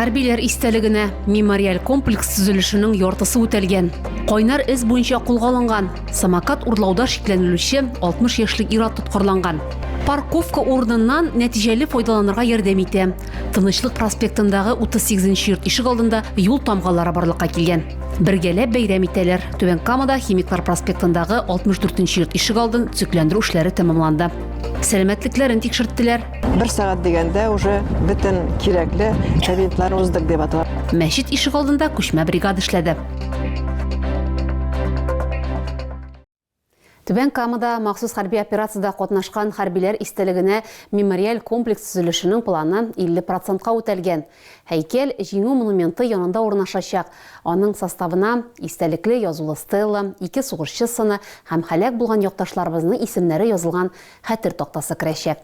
Хәрбиләр истәлегенә мемориаль комплекс төзелешенең яртысы үтәлгән. Кайнар эз буенча кулга алынган самокат урлауда шикләнелүче 60 яшьлек ир-ат тоткарланган. Парковка урыныннан нәтиҗәле файдаланырга ярдәм итә. Тынычлык проспектындагы 38 нче йорт ишек алдында юл тамгалары барлыкка килгән. Бергәләп бәйрәм итәләр. Түбән Камада Химиклар проспектындагы 64 нче йорт ишек алдын төзекләндерү эшләре тәмамланды. Сәламәтлекләрен тикшерттеләр. Бер сәгать дигәндә уже бөтен кирәкле кабинетлар уздык дип аталар. Мәчет ишек алдында күчмә бригада эшләде. Түбән Камада махсус хәрби операциядә катнашкан хәрбиләр истәлегенә мемориаль комплекс төзелешенең планы 50 процентка үтәлгән. Һәйкәл Җиңү монументы янында урнашачак. Аның составына истәлекле язулы стела, ике сугышчы сыны һәм һәлак булган якташларыбызның исемнәре язылган хәтер тактасы керәчәк.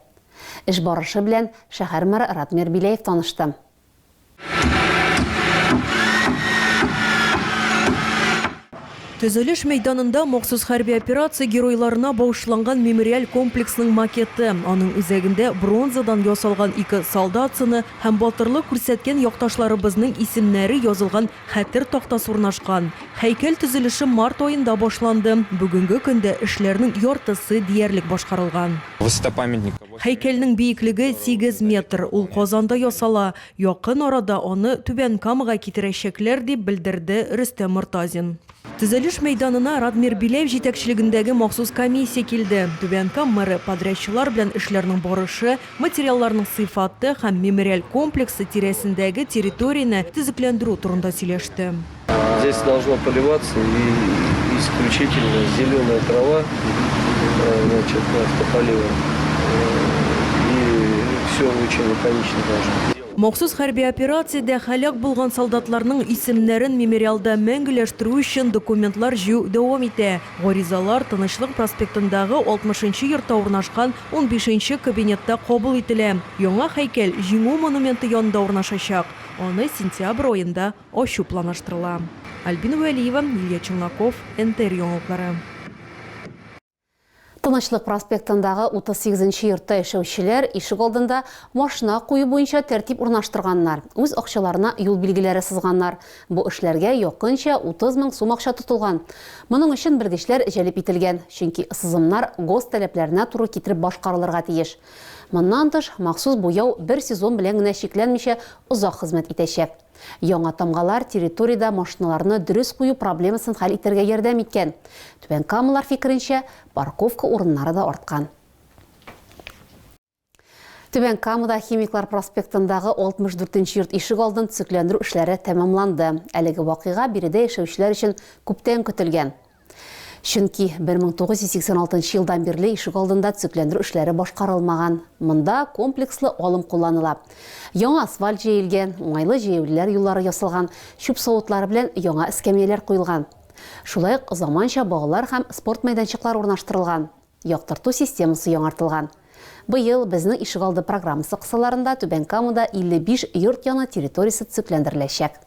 Эш барышы белән шәһәр мэры Радмир Беляев танышты. Төзелеш мәйданында махсус хәрби операция геройларына багышланган мемориаль комплексның макеты, аның үзәгендә бронзадан ясалган ике солдат сыны һәм батырлык күрсәткән якташларыбызның исемнәре язылган хәтер тактасы урнашкан. Һәйкәл төзелеше март аенда башланды, бүгенге көндә эшләрнең яртысы диярлек башкарылган. Высота памятника. Һәйкәлнең биеклеге сигез метр, ул Казанда ясала. Якын арада аны Түбән Камага китерәчәкләр, дип белдерде Рөстәм Мортазин. Төзелеш мәйданына Радмир Биляев җитәкчелегендәге махсус комиссия килде. Түбән Кама мэры подрядчылар белән эшләрнең барышы, материалларның сыйфаты һәм мемориаль комплексы тирәсендәге территорияне төзекләндерү турында сөйләште. Здесь должно поливаться исключительно зеленая трава, значит, автополивом. И все очень лаконично должно быть. Махсус хәрби операциядә һәлак булган солдатларның исемнәрен мемориалда мәңгеләштерү өчен документлар җыю дәвам итә. Гаризалар Тынычлык проспектындагы 60 нчы йортта урнашкан унбиш нче кабинетта кабул ителә. Яңа һәйкәл Җиңү монументы янында урнашачак. Аны сентябрь аенда Ачу планлаштырыла. Альбина Вәлиева, Лилия Челноков, НТР яңалыклары. Тынычлык проспектындагы 38 нче йортта яшәүчеләр ишегалдында машина кую буенча тәртип урнаштырганнар, үз акчаларына юл билгеләре сызганнар. Бу эшләргә якынча 30 мең сум акча тотылган. Моның өчен белгечләр җәлеп ителгән, чөнки сызымнар ГОСТ таләпләренә туры китереп башкарылырга тиеш. Моннан тыш, махсус буяу бер сезон белән генә чикләнмичә, озак хезмәт итәчәк. Яңа тамгалар территориядә машиналарны дөрес кую проблемасын хәл итәргә ярдәм иткән. Түбән Камалар фикеренчә, парковка урыннары да арткан. Түбән Камада Химиклар проспектындагы 64 нче йорт ишегалдын төзекләндерү эшләре тәмамланды. Әлеге вакыйга биредә яшәүчеләр өчен күптән көтелгән. Чөнки 1986 елдан бирле ишегалдында төзекләндерү эшләре башкарылмаган. Монда комплекслы алым кулланыла. Яңа асфальт җәелгән, уңайлы җәяүлеләр юллары ясалган, чүп савытлары белән яңа эскәмияләр куелган. Шулай ук заманча балалар һәм спорт мәйданчыклары урнаштырылган, яктырту системасы яңартылган. Быел Безнең ишегалды программасы кысаларында Түбән Камада 55 йорт яны территориясе төзекләндереләчәк.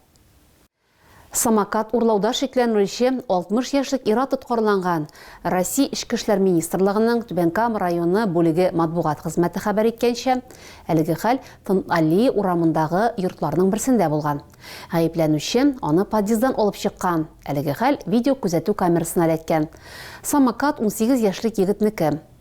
Самокат урлауда шикләнелүче 60 яшьлек ир-ат тоткарланган. Россия Эчке эшләр министрлыгының Түбән Кама районы бүлеге матбугат хезмәте хәбәр иткәнчә, әлеге хәл Тынталии урамындагы йортларның берсендә булган. Гаепләнүче аны подъезддан алып чыккан. Әлеге хәл видеокүзәтү камерасына эләккән. Самокат унсигез яшьлек егетнеке.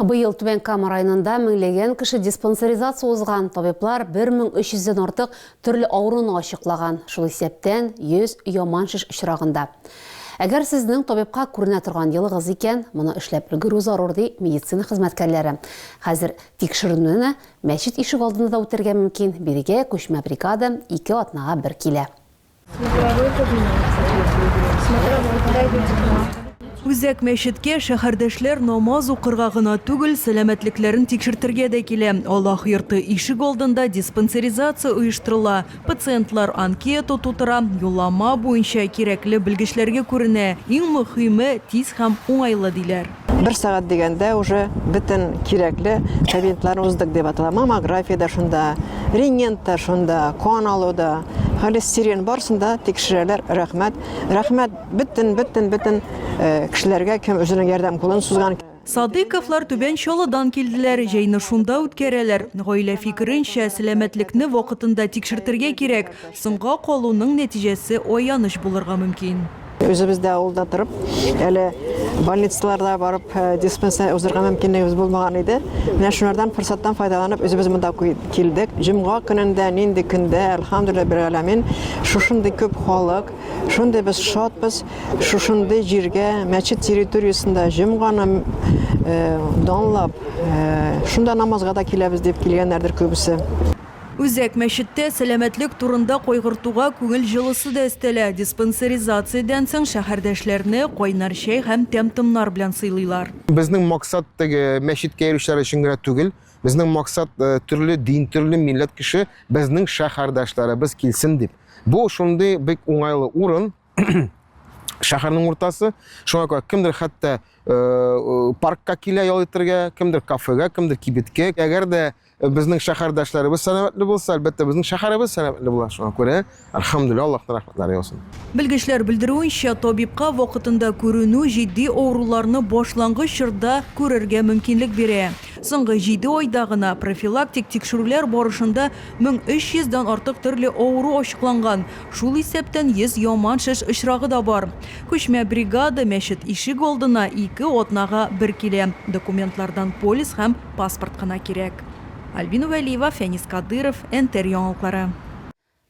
Быел Түбән Кама районында меңләгән кеше диспансеризация узган, табиблар 1300 дән артык төрле авыруны ачыклаган, шул исәптән 100 яман шеш очрагында. Әгәр сезнең табибка күренә торган елыгыз икән, моны эшләп өлгерү зарур, ди медицина хезмәткәрләре. Хәзер тикшеренүне мәчет ишегалдында да үтәргә мөмкин, бирегә күчмә бригада ике атнага бер килә. Үзәк мәчеткә шәһәрдәшләр намаз укырга гына түгел, сәламәтлекләрен тикшертергә дә килә. Аллаһ йорты ишек алдында диспансеризация оештырыла, пациентлар анкета тутыра, юллама буенча кирәкле белгечләргә күренә, иң мөһиме, тиз һәм уңайлы, диләр. бер сәгать дигәндә уже бөтен кирәкле кабинетларны уздык дип атала. Маммография да шунда, рентген да шунда, кан алу да, холестерин барсында тикшерәләр. Рәхмәт. Рәхмәт бөтен бөтен бөтен э, кешеләргә кем үзенең ярдәм кулын сузган. Садыковлар Түбән Чалыдан килделәр, җәйне шунда үткәрәләр. Гаилә фикеренчә, сәламәтлекне вакытында тикшертергә кирәк. Соңга калуның нәтиҗәсе аяныч булырга мөмкин. Үзебез дә авылда торып, әле больницаларда барып э, диспансер узырга мөмкинлегебез булмаган иде. Менә шулардан форсаттан файдаланып үзебез монда килдек. Җомга көнендә, нинди көндә, әлхамдулилла бер галәмин, шушындый күп халык, шундый без шатбыз, шушындый җиргә, мәчет территориясендә җомганы э, данлап, э, шунда намазга да киләбез дип килгәннәрдер күбесе. Үзәк мәчеттә сәламәтлек турында кайгыртуга күңел җылысы да өстәлә, диспансеризациядән соң шәһәрдәшләрне кайнар чәй һәм тәм-томнар белән сыйлыйлар. Безнең максат теге мәчеткә йөрүчеләр өчен генә түгел, безнең максат төрле дин, төрле милләт кеше безнең шәһәрдәшләребез килсен дип. Бу шундый бик уңайлы урын, шәһәрнең уртасы, шуңа күрә кемдер хәтта паркка килә ял итәргә, кемдер кафега, кемдер кибеткә. Әгәр дә Безнең шәһәрдәшләребез сәламәтле булса, әлбәттә, безнең шәһәребез сәламәтле була. Шуңа күрә, альхамдулилла, Аллаһтан рәхмәтләр яусын. Белгечләр белдерүенчә, табибка вакытында күренү җитди авыруларны башлангыч чорда күрергә мөмкинлек бирә. Соңгы җиде айда гына профилактик тикшерүләр барышында 1300 дан артык төрле авыру ачыкланган, шул исәптән 100 яман шеш очрагы да бар. Күчмә бригада мәчет ишек алдына ике атнага бер килә, документлардан полис һәм Паспорт кына кирәк. Альбина Вәлиева, Фәнис Кадыйров, НТР яңалыклары.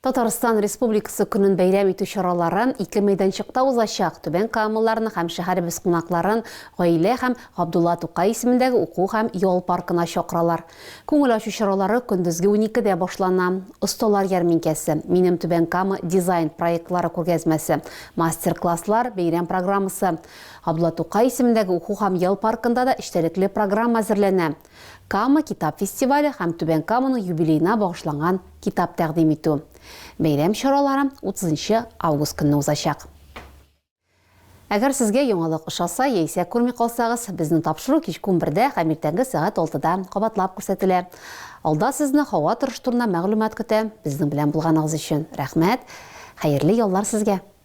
Татарстан Республикасы көнен бәйрәм итү чаралары ике мәйданчыкта узачак, Түбән Камаларны һәм шәһәребез кунакларын Гаилә һәм Габдулла Тукай исемендәге уку һәм ял паркына чакыралар. Күңел ачу чаралары көндезге уникедә башлана. Осталар ярминкәсе, Минем Түбән Кама дизайн проектлары күргәзмәсе, мастер-класслар, бәйрәм программасы, Габдулла Тукай исемендәге уку һәм ял паркында да эчтәлекле программа әзерләнә, Кама китап фестивале һәм Түбән Каманың юбилеена багышланган китап тәкъдим итү. Бәйрәм чаралары утызынчы август көнне узачак. Әгәр сезгә яңалык ошаса яисә күрми калсагыз, безнең тапшыру кичке унбердә һәм иртәнге сәгать алтыда кабатлап күрсәтелә. Алда сезне һава торышы турында мәгълүмат көтә. Безнең белән булганыгыз өчен рәхмәт! Хәерле яллар сезгә!